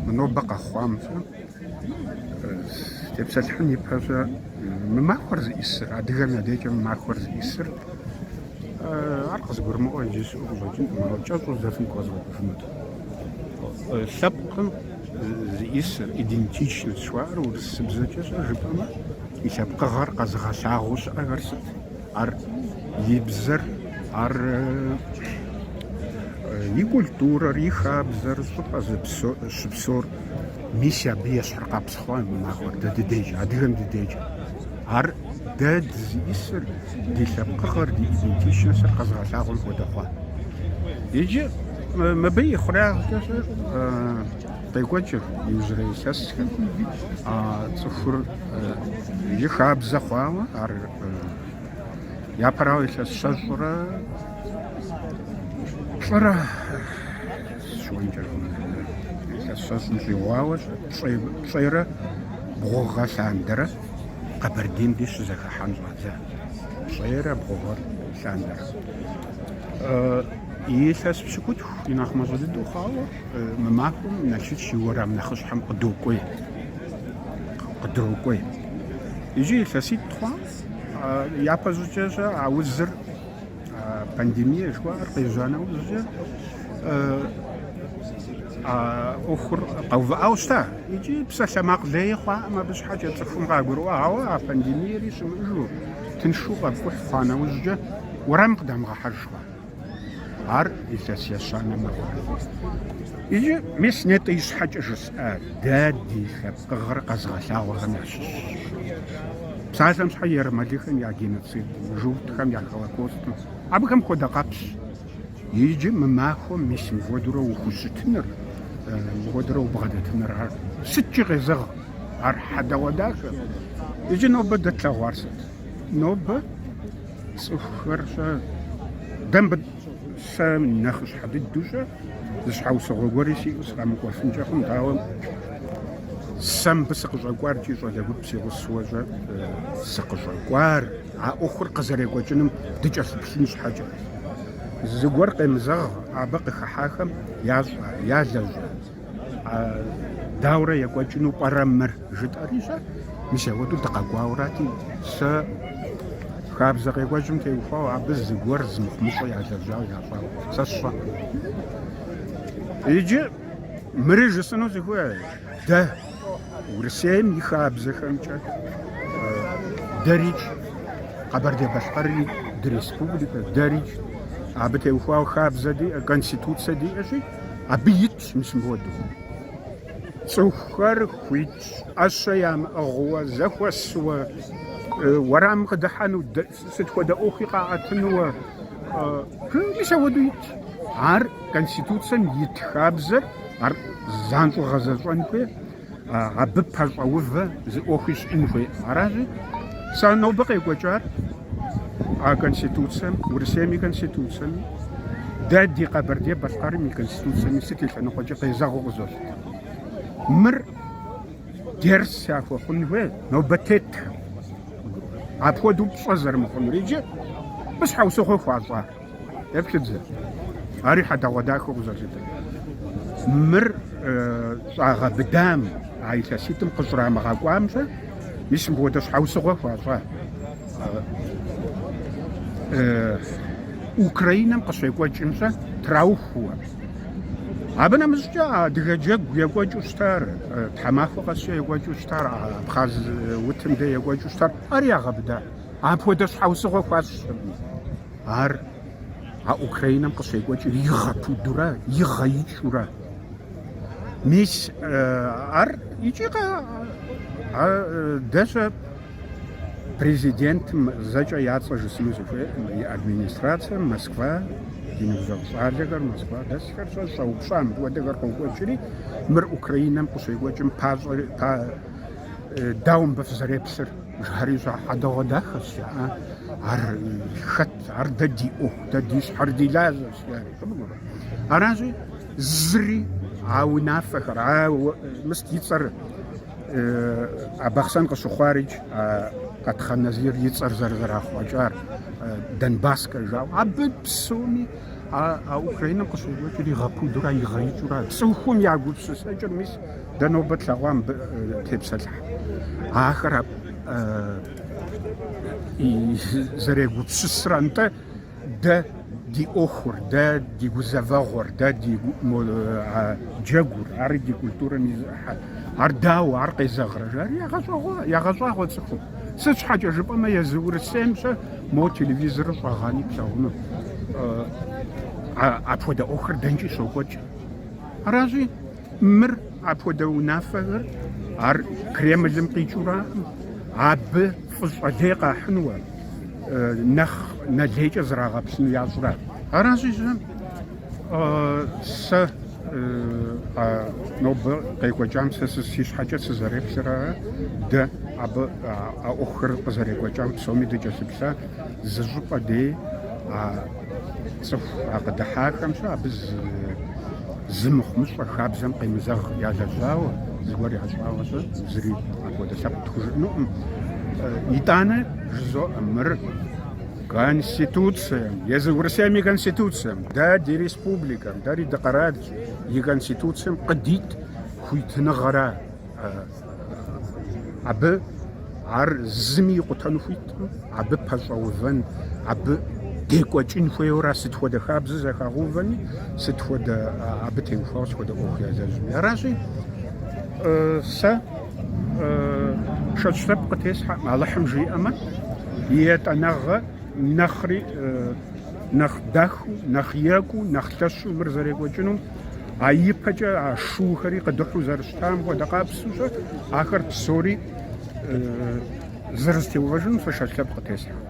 Мы нобэ къэхъуам-щэ тепсэлъыхьын ипэ-щэ мы махуэр зыӏисыр, адыгэм я декӏэ мы махуэр зыӏисыр, ар къызгурымыӏуэ иджы щыӏэу къыщӏэкӏынкъым, ауэ кӏэщӏу здэфӏи къэзгъуэтыфынут. Лъэпкъым зыӏисыр, идентичность жыхуаӏэр урысыбзэкӏэ-щэ жыпӏэмэ, и лъэпкъыгъэр къэзыгъэлъагъуу щыӏэхэр сыт? Ар и бзэр, ар и культурэр, и хабзэр, щӏыпӏэ зыщыпсэур. Мис абы ещхьыркъэпс хъуа мы махуэр дэ ди декӏэ, адыгэм ди декӏэ. Ар дэ дызыӏисыр, ди лъэпкъыгъэр, ди идентичностыр къэзыгъэлъагъуэм хуэдэ хъуа. Иджы мыбы и хъурагъкӏэ къекӏуэкӏыр иужьрей илъэсхэм цӏыхур и хабзэ хъуауэ, ар Япэрауэ илъэс щэщӏрэ плӏырэ щыуэнкӏэркъым. Илъэс щэщӏым щӏигъуауэ пщӏейрэ бгъу гъэ лъандэрэ Къэбэрдейм ди щызэхыхьэн щӏадза. Пщӏейрэ бгъу гъэ лъандэрэ. Илъэс пщыкӏутху и нэхъ мащӏэ дыдэу хъуауэ мы махуэм Налшыч и уэрам нэхъыщхьэм къыдокӏуей. къыдокӏуей. Иджы илъэситӏ хъуа, япэ щӏыкӏэ-щэ а узыр, пандемие жыхуаӏэр къежьа нэужькӏэ, а ӏуэхур къэувыӏауэ щыта. Икӏи псалъэмакъ лейи хъуакъым абы щхьэкӏэ цӏыхум къагурыӏуа, ауэ а пандемиери щымыӏэжу, тыншу къэпкӏухь хъуа нэужькӏэ, уэрам къыдамыгъэхьэж хъуа. Ар илъэс ещанэ мэхъу. Иджы мис нетӏэ ищхьэкӏэ жысӏа, дэ ди лъэпкъыгъэр къэзыгъэлъагъуэхэм ящыщщ. Псалъэм щхьэ ермэлыхэм я геноцидым, журтхэм я холокостым, абыхэм хуэдэ къэпсщ. Иджы мы махуэм мис мыхуэдурэ ухущытыныр, мыхуэдурэ убгъэдэтыныр ар сыткӏи къезэгъ, ар хьэдэгъуэдахэ. Иджы нобэ дэ тлъэгъуар сыт? Нобэ Цӏыхухэр-щэ, дэ мыбы сэ нэхъыщхьэ дыдэу-щэ, зы щхьэусыгъуэ гуэри сиӏэу сыкъэмыкӏуэфынкӏэ хъунт, ауэ сэ мыбы сыкъыщӏэкӏуар икӏи щӏалэ гуп си гъусэуэ-щэ сыкъыщӏэкӏуар, а ӏуэхур къызэрекӏуэкӏыным дыкӏэлъыплъын щхьэкӏэ. Зыгуэр къемызэгъ абы къыхыхьахэм ящӏа, ялэжьа. Дауэрэ екӏуэкӏыну пӏэрэ мыр? жытӏэри-щэ. Мис ауэдэу дыкъэкӏуауэрати, сэ хабзэ къекӏуэкӏым теухуауэ абы зыгуэр зымыхъумыщӏэ ялэжьауэ ящӏауэ сэ сщӏэркъым. Иджы мыри жысӏэну сыхуей, дэ Урысейм и хабзэхэмкӏэ дэрикӏ, Къэбэрдей-Балъкъэрри дыреспубликэ дэрикӏ, абы теухуауэ хабзэ диӏэ, конституцэ диӏэщи, Абы итщ мис мыпхуэдэу. Цӏыхухэр хуитщ ӏэщэ ямыӏыгъыуэ, зэхуэсуэ, уэрам къыдыхьэну, сыт хуэдэ ӏуэхуи къаӏэтынуэ. Мис ауэдэу итщ. Ар Конституцэм ит хабзэр, ар занщӏэу гъэзэщӏэн хуейр. абы пэщӏэувэ зы ӏуэхуи щӏын хуей. Аращи, сэ нобэ къекӏуэкӏар а Конституцэм, Урысейм и Конституцэми, дэ ди Къэбэрдей-Балъкъэрым и Конституцэми сыт и лъэныкъуэкӏи къезэгъыу къызолъытэ. Мыр дерс яхуэхъун хуей нобэ тетхэм, апхуэдэу пщӏэ зэрымыхъунур иджы мы щхьэусыгъуэ хуащӏар. Еплъыт зэ. Ари хьэдэгъуэдахэу къызолъытэ. Мыр щӏагъэбыдам, а илъэситӏым къыщӏрамыгъэкӏуам-щэ, мис мыпхуэдэ щхьэусыгъуэ хуащӏа? Украинэм къыщекӏуэкӏым-щэ траухуэ. Абы нэмыщӏкӏэ адыгэ джэгу екӏуэкӏыу щытар, тхьэмахуэ къэскӏэ екӏуэкӏыу щытар, Абхъаз утым дэ екӏуэкӏыу щытар, ари ягъэбыда. Апхуэдэ щхьэусыгъуэ хуащӏыркъым. Ар а Украинэм къыщекӏуэкӏыр игъэпудурэ, игъэикӏэурэ. Мис ар икӏи дэ-щэ президентым зэкӏэ я цӏэ жысӏэну сыхуейкъым, и администрацэм, Москва, ди ныбжьэгъу щӏалэхэр, Москва дэсхэр-щэ щӏэупщӏа мыпхуэдэхэр къокӏуэкӏри, мыр Украинэм къыщекӏуэкӏым пащӏэ дауэ мыбы фызэреплъыр? Жыхьэри щӏа хьэдэгъуэдахэщ, жаӏэ. Ар хэт, ар дэ ди ӏуэху, дэ ди щхьэр ди лажьэщ, жаӏэ. Къыбгурэ. Аращи, зыри а унафэхэр, а мыст и цӏэр а Бахъсэн къыщыхъуарич, а Къатхъэн Назир и цӏэр зэрызэрахъуэкӏар, Донбасскэ жаӏэу, абы псоми а Украинэм къыщекӏуэкӏыр игъэпудурэ игъэикӏэурэ, цӏыхум я гупсысэкӏыр мис Дэ нобэ тлъэгъуа мыбы тепсэлъыхь. Ахэр зэрегупсысыр антӏэ дэ ди ӏуэхур, дэ ди гузэвэгъуэр, дэ ди джэгур, ари ди культурэм и зы ӏыхьэр. Ар дауэ, ар къезэгърэ? жари ягъэщӏагъуэ цӏыхум. Сыт щхьэкӏэ жыпӏэмэ езы Урысейм-щэ мо телевизорыр щӏэгъани плъэгъуну. Апхуэдэ ӏуэхур дэнкӏи щокӏуэкӏ. Аращи, Мыр апхуэдэ унафэхэр ар Кремлым къикӏыуракъым, абы фӏыщӏэ лей къахьынуэ, нэхъ нэлейкӏэ зрагъэплъыну ящӏрэ? Аращи-щэ, сэ а нобэ къекӏуэкӏам сэ си щхьэкӏэ сызэреплъыра, дэ абы а ӏуэхухэр къызэрекӏуэкӏам псоми дыкӏэлъыплъа зы щӏыпӏэ дей, Цӏыху къыдыхьахэм щэ абы зы мыхъумыщӏэ хабзэм къемызэгъ ялэжьауэ, зыгуэр ящӏауэ щэ зыри апхуэдэ лъэпкъ тхужыӏэнукъым. Итӏанэ жызоӏэ мыр Конституцием, езы Урысейм и Конституцием, дэ ди республикэм, дэри дыкъэралщ, и Конституцием къыдит хуитыныгъэра. Абы ар зыми икъутэну хуиткъым, абы пэщӏэувэн, абы декӏуэкӏын хуейуэра, сыт хуэдэ хабзэ зэхагъэувэни, сыт хуэдэ абы теухуауэ сыт хуэдэ ӏуэху ялэжьми. Аращи, сэ шэч лъэпкъ къытесхьэкъым, Алыхьым жиӏэмэ, и етӏанэгъэ нэхъри нэхъ дахыу, нэхъ екӏуу, нэхъ лъэщу мыр зэрекӏуэкӏынум А ипэкӏэ а шуухэри къыдыхьу зэрыщытам хуэдэ къабзэу щэ ахэр псори зэрызэтеувэжынум сэ шэч лъэпкъ къытесхьэкъым.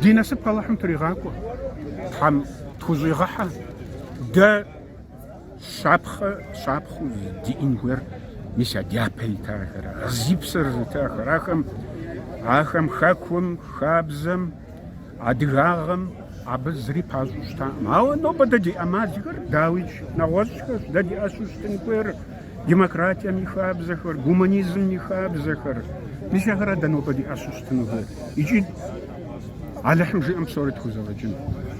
Ди насып Алыхьым тригъакӏуэ, Тхьэм тхущӏигъэхьэ, дэ щапхъэ щапхъу диӏэн хуейр мис а дяпэ итахэр, зи псэр зытахэр, ахэм ахэм хэкум, хабзэм, Адыгагъэм абы зыри пащӏу щытакъым. Ауэ нобэ дэ ди ӏэмалхэр, дауичӏ, нэгъуэщӏхэщ. Дэ ди ӏэщу щытын хуейр демократием и хабзэхэр, гуманизмым и хабзэхэр. Мис ахэра дэ нобэ ди ӏэщу щытыну хуейр. Икӏи Алыхьым жиӏэм псори тхузэфӏэкӏын.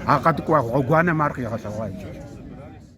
А къэткӏуа гъуэгуанэм ар къигъэлъэгъуа иджыри.